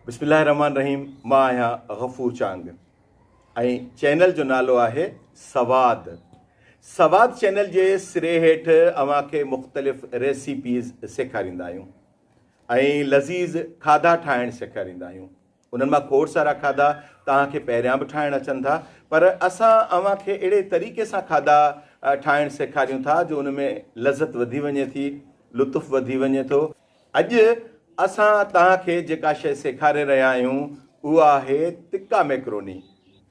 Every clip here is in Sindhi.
بسم الله الرحمٰن الرحيم مان آهيان غفور چانگ ۽ چينل جو نالو آهي سواد سواد چينل جي سري هيٺ اوهان کي مختلف ريسيپيز سيکاريندا آهيون ۽ لذيذ کاڌا ٺاهڻ سيکاريندا آهيون انهن مان کوڙ سارا کاڌا توهان کي پهريان به ٺاهڻ اچن ٿا پر اسان اوهان کي اهڙي طريقي سان کاڌا ٺاهڻ سيکاريون ٿا جو ان ۾ لذت وڌي وڃي ٿي لطف وڌي وڃي ٿو اڄ اسان توهان کي جيڪا شيء سيکاري رهيا آهيون اها آهي تڪا ميڪروني.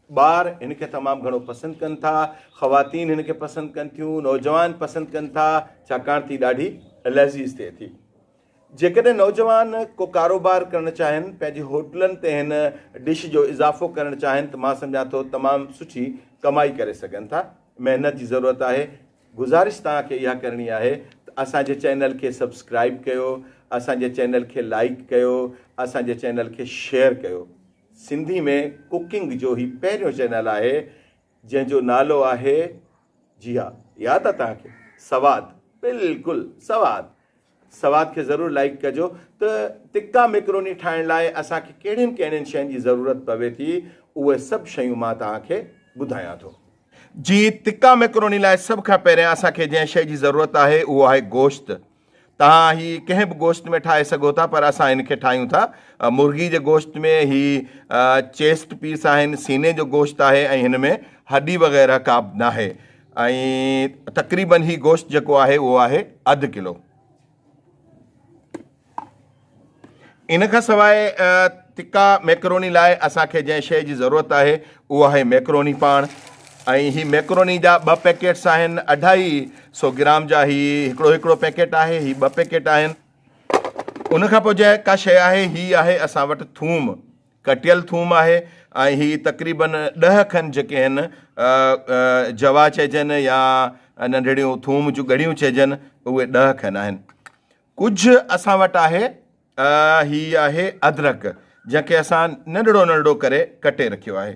ٻار هن کي تمام گهڻو پسند ڪن ٿا، خواتين هن کي پسند ڪن ٿيون، نوجوان پسند ڪن ٿا ڇاڪاڻ تي ڏاڍي لذيذ ٿئي ٿي. جيڪڏهن نوجوان ڪو ڪاروبار ڪرڻ چاهين، پنهنجي هوٽلن تي هن ڊش جو اضافو ڪرڻ چاهين ته مان سمجهان ٿو تمام سٺي ڪمائي ڪري سگهن ٿا. محنت جي ضرورت آهي. گذارش توهان کي اها ڪرڻي آهي ته اسان جي چينل کي سبسڪرائيب ڪيو اسان جي چينل کي لائيڪ ڪيو اسان جي چينل کي شيئر ڪيو سنڌي ۾ ڪڪنگ جو هي پهريون چينل آهي جنهن جو نالو آهي جي ها ياد آ توهان کي سواد بلڪل سواد سواد کي ضرور لائيڪ ڪجو ته تڪا ميڪروني ٺاهڻ لاء اسان کي ڪهڙين ڪهڙين شين جي ضرورت پوي ٿي اهي سڀ شيون مان توهان کي ٻڌايان ٿو. جي تڪا ميڪروني لاء سڀ کان پهريان اسان کي جنهن شي جي ضرورت آهي اهو آهي گوشت توهان هي ڪنهن به گوشت ۾ ٺاهي سگهو ٿا پر اسان ان کي ٺاهيون ٿا مرغي جي گوشت ۾ هي چيسٽ پيس آهن سيني جو گوشت آهي ۽ هن ۾ هڏي وغيره ڪابه ناهي ۽ تقريبن هي گوشت جيڪو آهي اهو آهي اڌ ڪلو ان کان سواء تکا ميڪروني لاء اسانکي جنهن شيء جي ضرورت آهي اهو آهي ميڪروني پاڻ ۽ هي ميڪروني جا ٻه پيڪيٽس آهن اڍائي سو گرام جا هي هڪڙو هڪڙو پيڪيٽ آهي هي ٻه پيڪيٽ آهن ان کان پوء جنهن ڪا شيء آهي هي آهي اسان وٽ ٿوم ڪٽيل ٿوم آهي ۽ هي تقريبن ڏهه کن جيڪي هن جوا چئجن يا ننڍڙيون ٿوم جون ڳڙيون چئجن اهي ڏهه کن آهن ڪجهه اسان وٽ آهي هي آهي ادرک جنهن کي اسان ننڍڙو ننڍڙو ڪري ڪٽي رکيو آهي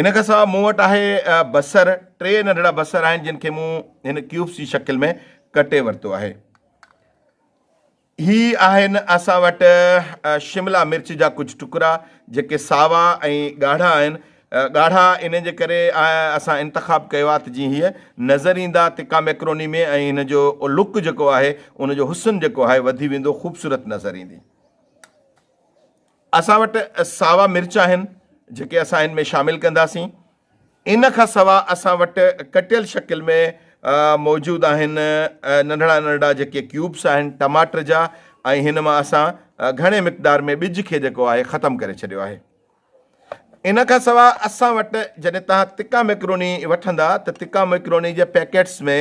ان کان سواء مون وٽ آهي بصر، ٽي ننڍڙا بصر آهن جن کي مون هن ڪيوبس جي شڪل ۾ ڪٽي ورتو آهي. هي آهن اسان وٽ شملا مرچ جا ڪجهه ٽڪرا جيڪي ساوا ۽ ڳاڙها آهن، ڳاڙها ان جي ڪري اسان انتخاب ڪيو آهي ته جيئن هي نظر ايندا تکا ميڪروني ۾ ۽ هن جو لڪ جيڪو آهي ان جو حسن جيڪو آهي وڌي ويندو خوبصورت نظر ايندي. اسان وٽ ساوا مرچ آهن جيڪي اسان هن ۾ شامل ڪنداسين. ان کان سوا اسان وٽ ڪٽيل شڪل ۾ موجود آهن ننڍڙا ننڍڙا جيڪي ڪيوبس آهن ٽماٽر جا ۽ هن مان اسان گهڻي مقدار ۾ ٻج کي جيڪو آهي ختم ڪري ڇڏيو آهي. ان کان سوا اسان وٽ جڏهن توهان تکا ميڪروني وٺندا ته تکا ميڪروني جي پيڪيٽس ۾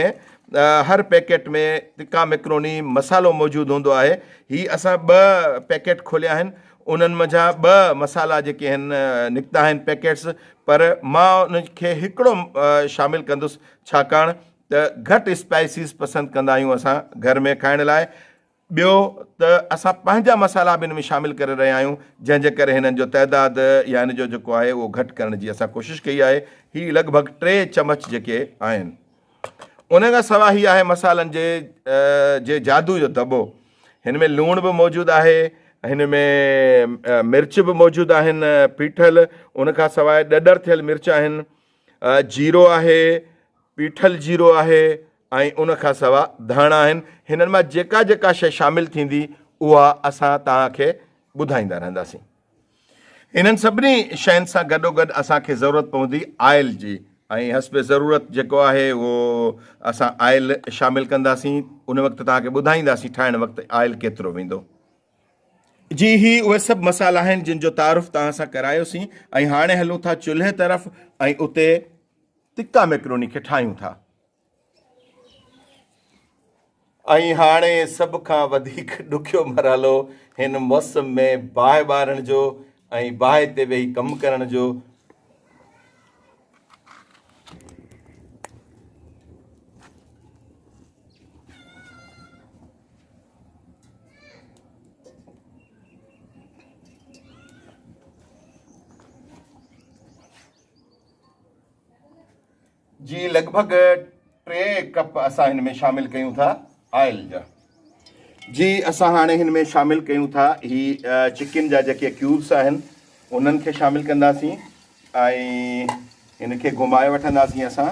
هر پيڪيٽ ۾ تکا ميڪروني مصالحو موجود هوندو آهي هي اسان ٻه پيڪيٽ کوليا آهن انهن منجهان ٻه مصالحا جيڪي آهن نڪتا آهن پيڪيٽس پر مان ان کي هڪڙو شامل ڪندس ڇاڪاڻ ته گهٽ اسپائسيز پسند ڪندا آهيون اسان گهر ۾ کائڻ لاء ٻيو ته اسان پنهنجا مسالا به ان ۾ شامل ڪري رهيا آهيون جنهن جي ڪري هنن جو تعداد يا هن جو جيڪو آهي اهو گهٽ ڪرڻ جي اسان ڪوشش ڪئي آهي هي لڳ ڀڳ ٽي چمچ جيڪي آهن ان کان سواء هي آهي مسالن جي جي جادو جو دٻو هن ۾ لوڻ به موجود آهي هن ۾ مرچ به موجود آهن پيٺل ان کان سواء ڏڏر ٿيل مرچ آهن جيرو آهي پيٺل جيرو آهي ۽ ان کان سوا ڌاڻا آهن هنن مان جيڪا جيڪا شئي شامل ٿيندي اها اسان توهان کي ٻڌائيندا رهنداسين انهن سڀني شين سان گڏوگڏ اسان کي ضرورت پوندي آئل جي ۽ حسب ضرورت جيڪو آهي اهو اسان آئل شامل ڪنداسين ان وقت توهان کي ٻڌائينداسين ٺاهڻ وقت آئل ڪيترو ويندو جي هي اهي سڀ مسالا آهن جن جو تعارف توهان سان ڪرايوسين ۽ هاڻي هلون ٿا چلهي طرف ۽ اتي تکا ميڪروني کي ٺاهيون ٿا ۽ هاڻي سڀ کان وڌيڪ ڏکيو مرحلو هن موسم ۾ باهه ٻارڻ جو ۽ باهه تي ويهي ڪم ڪرڻ جو جي لڳ ڀڳ ٽي ڪپ اسان هن ۾ شامل ڪيون ٿا آئل جا جي اسان هاڻي هن ۾ شامل ڪيون ٿا هي چڪن جا جيڪي ڪيوبس آهن انهن کي شامل ڪنداسين ۽ هن کي گهمائي وٺنداسين اسان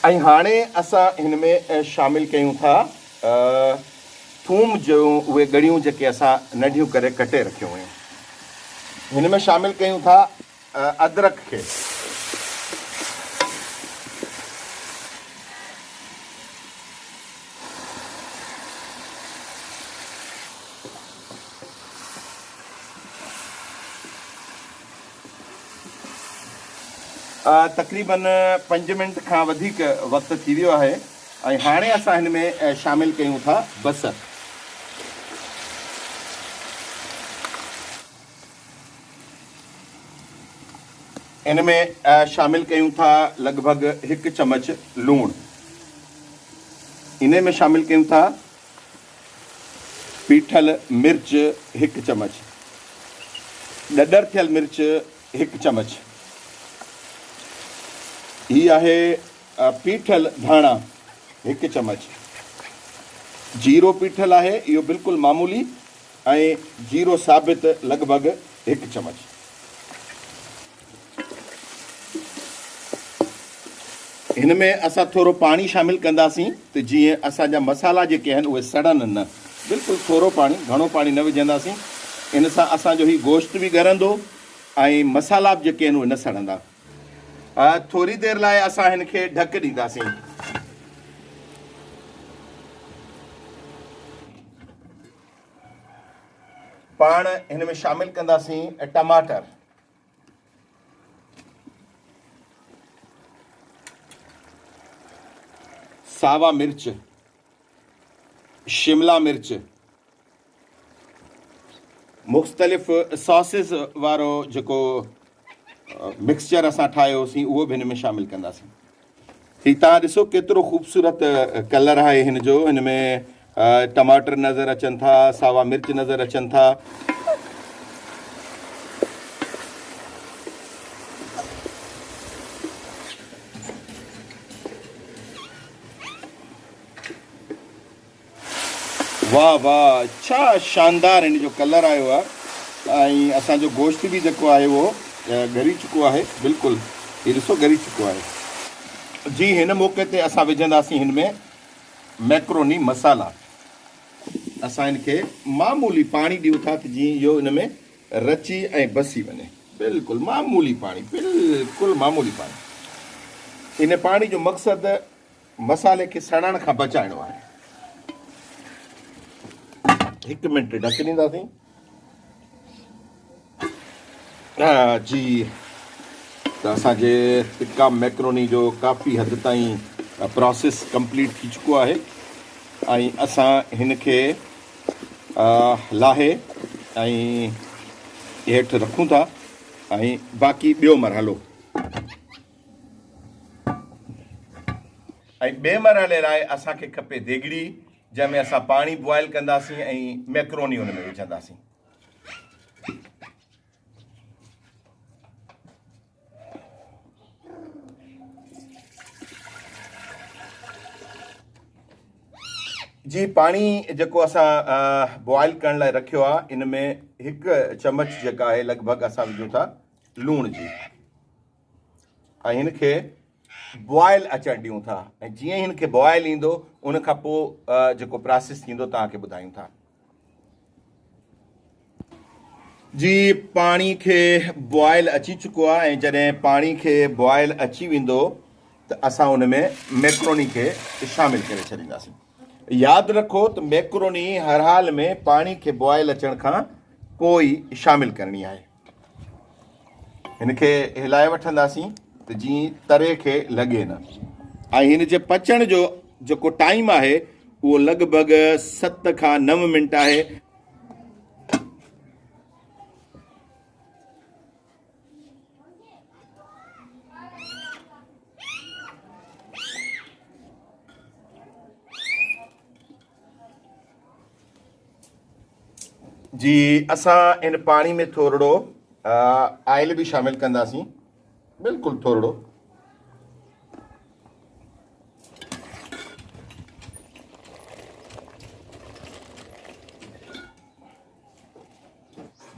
۽ هاڻي اسان هن ۾ شامل ڪيون ٿا ٿوم جون اهي ڳڙيون جيڪي اسان ننڍيون ڪري ڪٽي رکيون هيون هن ۾ شامل ڪيون ٿا. ادرڪ کي تقريبن پنج منٽ کان وڌيڪ وقت ٿي ويو آهي ۽ هاڻي اسان هن ۾ شامل ڪيون ٿا بصر ان ۾ شامل ڪيون ٿا لڳ ڀڳ هڪ چمچ لوڻ ان ۾ شامل ڪيون ٿا پيٺل مرچ هڪ چمچ ڏڏر ٿيل مرچ هڪ چمچ هي آهي پيٺل ڌاڻا هڪ چمچ جيرو پيٺل آهي اهو بلڪل معمولي ۽ جيرو ثابت لڳ ڀڳ هڪ چمچ. هن ۾ اسان ٿورو پاڻي شامل ڪنداسين ته جيئن اسان جا مصالحا جيڪي آهن اهي سڙن نه. بلڪل ٿورو پاڻي گهڻو پاڻي نه وجهنداسين. ان سان اسان جو هي گوشت به ڳرندو ۽ مصالحا به جيڪي آهن اهي نه سڙندا. ٿوري دير لاء اسان هن کي ڍڪ ڏينداسين. پاڻ هن ۾ شامل ڪنداسين ٽماٽر. ساوا مرچ. شملا مرچ. مختلف ساسز وارو جيڪو مڪسچر اسان ٺاهيو هوسين اهو به هن ۾ شامل ڪنداسين ٺيڪ توهان ڏسو ڪيترو خوبصورت ڪلر آهي هن جو هن ۾ ٽماٽر نظر اچن ٿا ساوا مرچ نظر اچن ٿا واه واه ڇا شاندار هن جو ڪلر آيو آ ۽ اسان جو گوشت به جيڪو آهي اهو ڳري چڪو آهي بلڪل هي ڏسو ڳري چڪو آهي جي هن موقعي تي اسان وجهنداسين هن ۾ ميڪروني مسالا اسان هن کي معمولي پاڻي ڏيون ٿا ته جي اهو ان ۾ رچي ۽ بسي وڃي بلڪل معمولي پاڻي بلڪل معمولي پاڻي ان پاڻي جو مقصد مصالحي کي سڙڻ کان بچائڻو آهي. هڪ منٽ ڍڪ ڏينداسين. جي ته اسان جي ٽڪا ميڪروني جو ڪافي حد تائين پروسيس ڪمپليٽ ٿي چڪو آهي ۽ اسان هن کي لاهي ۽ هيٺ رکون ٿا ۽ باقي ٻيو مرحلو ۽ ٻئي مرحلي لاء اسان کي کپي ديڳڙي جنهن ۾ اسان پاڻي بوائل ڪنداسين ۽ ميڪروني ان ۾ وجهنداسين. جي پاڻي جيڪو اسان بوائل ڪرڻ لاء رکيو آ ان ۾ هڪ چمچ جيڪا آهي لڳ ڀڳ اسان وجهون ٿا لوڻ جي. ۽ هن کي بوائل اچڻ ڏيون ٿا ۽ جيئن ئي هن کي بوائل ايندو ان کان پوء جيڪو پراسيس ٿيندو توهان کي ٻڌايون ٿا جي پاڻي کي بوائل اچي چڪو آهي ۽ جڏهن پاڻي کي بوائل اچي ويندو ته اسان ان ۾ ميڪروني کي شامل ڪري ڇڏينداسين ياد رکو ته ميڪروني هر حال ۾ پاڻي کي بوائل اچڻ کان پوء شامل ڪرڻي آهي هن کي هلائي وٺنداسين ته جيئن تري کي لڳي نه ۽ هن جي پچڻ جو جيڪو ٽائيم آهي اهو لڳ ڀڳ ست کان نو منٽ آهي جي اسان ان پاڻي ۾ ٿورڙو آئل به شامل ڪنداسين بلڪل ٿورڙو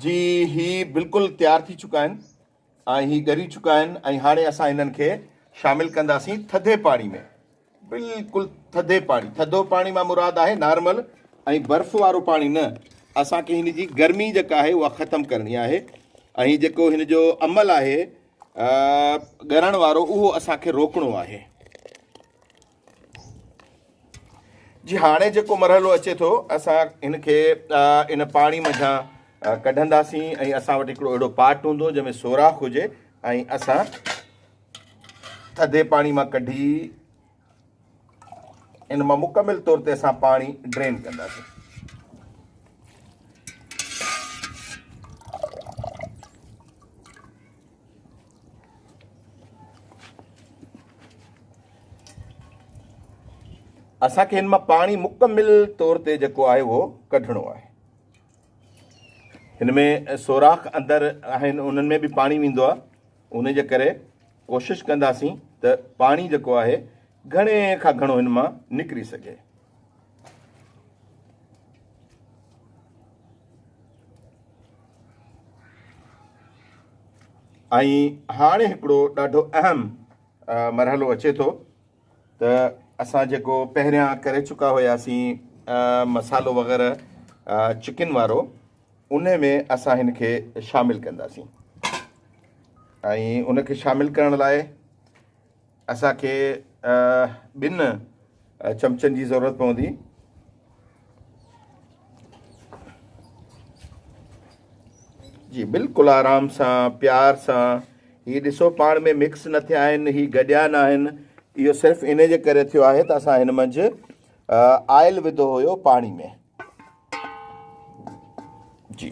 جي هي بلڪل تيار ٿي چڪا آهن ۽ هي ڳري چڪا آهن ۽ هاڻي اسان هنن کي شامل ڪنداسين ٿڌي پاڻي ۾ بلڪل ٿڌي پاڻي ٿڌو پاڻي مان مراد آهي نارمل ۽ برف وارو پاڻي نه اسان کي هن جي گرمي جيڪا آهي اها ختم ڪرڻي آهي ۽ جيڪو هن جو عمل آهي ڳرڻ وارو اهو اسان کي روڪڻو آهي جي هاڻي جيڪو مرحلو اچي ٿو اسان هن کي ان پاڻي منجهان ڪڍنداسين ۽ اسان وٽ هڪڙو اهڙو پاٽ هوندو جنهن ۾ سوراخ هجي ۽ اسان ٿڌي پاڻي مان ڪڍي ان مان مڪمل طور تي اسان پاڻي ڊرين ڪنداسين اسان کي هن مان پاڻي مڪمل طور تي جيڪو آهي اهو ڪڍڻو آهي هن ۾ سوراخ اندر آهن انهن ۾ به پاڻي ويندو آهي ان جي ڪري ڪوشش ڪنداسين ته پاڻي جيڪو آهي گهڻي کان گهڻو هن مان نڪري سگهي ۽ هاڻي هڪڙو ڏاڍو اهم مرحلو اچي ٿو ته اسان جيڪو پهريان ڪري چڪا هياسين مصالحو وغيره چڪن وارو ان ۾ اسان هن کي شامل ڪنداسين ۽ ان کي شامل ڪرڻ لاء اسان کي ٻن چمچن جي ضرورت پوندي. جي بلڪل آرام سان پيار سان هي ڏسو پاڻ ۾ مڪس نه ٿيا آهن هي گڏيا نه آهن اهو صرف ان جي ڪري ٿيو آهي ته اسان هن منجهه آئل وڌو هيو پاڻي ۾ جي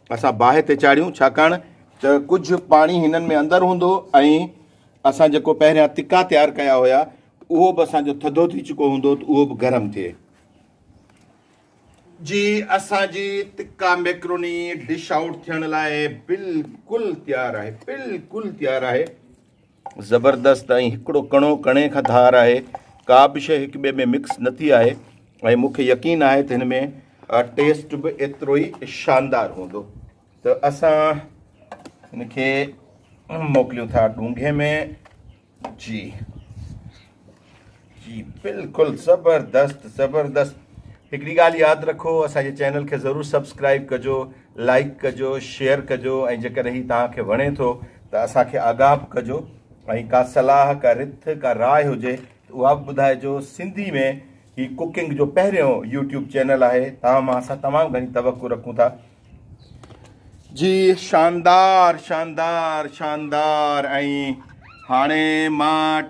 اسان باهه تي چاڙهيون ڇاڪاڻ ته ڪجهه پاڻي هنن ۾ اندر هوندو ۽ اسان جيڪو پهريان تکا تيار ڪيا هيا اهو به اسان جو ٿڌو ٿي چڪو هوندو ته اهو به گرم ٿئي. جي اسان جي تکا ميڪروني ڊش آئوٽ ٿيڻ لاء بلڪل تيار آهي بلڪل تيار آهي. زبردست ۽ هڪڙو ڪڻو ڪڻي کان ڌار آهي ڪابه شي هڪ ٻئي ۾ مڪس نه ٿي آهي ۽ مونکي يقين آهي ته هن ۾ ٽيسٽ به ايترو ئي شاندار هوندو ته اسان هن کي موڪليون ٿا ڏونگهي ۾ جي جي بلڪل زبردست زبردست هڪڙي ڳالهه ياد رکو اسان جي چينل کي ضرور سبسڪرائب ڪجو لائڪ ڪجو شيئر ڪجو ۽ جيڪڏهن هي توهان کي وڻي ٿو ته اسان کي آگاهه به ڪجو ۽ ڪا صلاح ڪا رٿ ڪا راء هجي ته اها به ٻڌائجو سنڌي ۾ هي ڪوڪنگ جو پهريون يوٽيوب چينل آهي تمام اسان تمام گهڻي توقع رکون ٿا جي شاندار شاندار شاندار ۽ هاڻي مان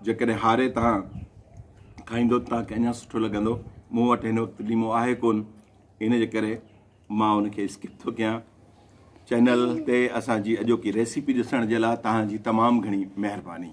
جيڪڏهن هاري توهان کائيندو ته توهان کي اڃا سٺو لڳندو مون وٽ هن وقت ليمو آهي ڪون ان جي ڪري مان ان کي اسڪپ ٿو ڪيان چينل تي اسان جي اڄوڪي ريسيپي ڏسڻ جي لاء توهان جي تمام گهڻي مهرباني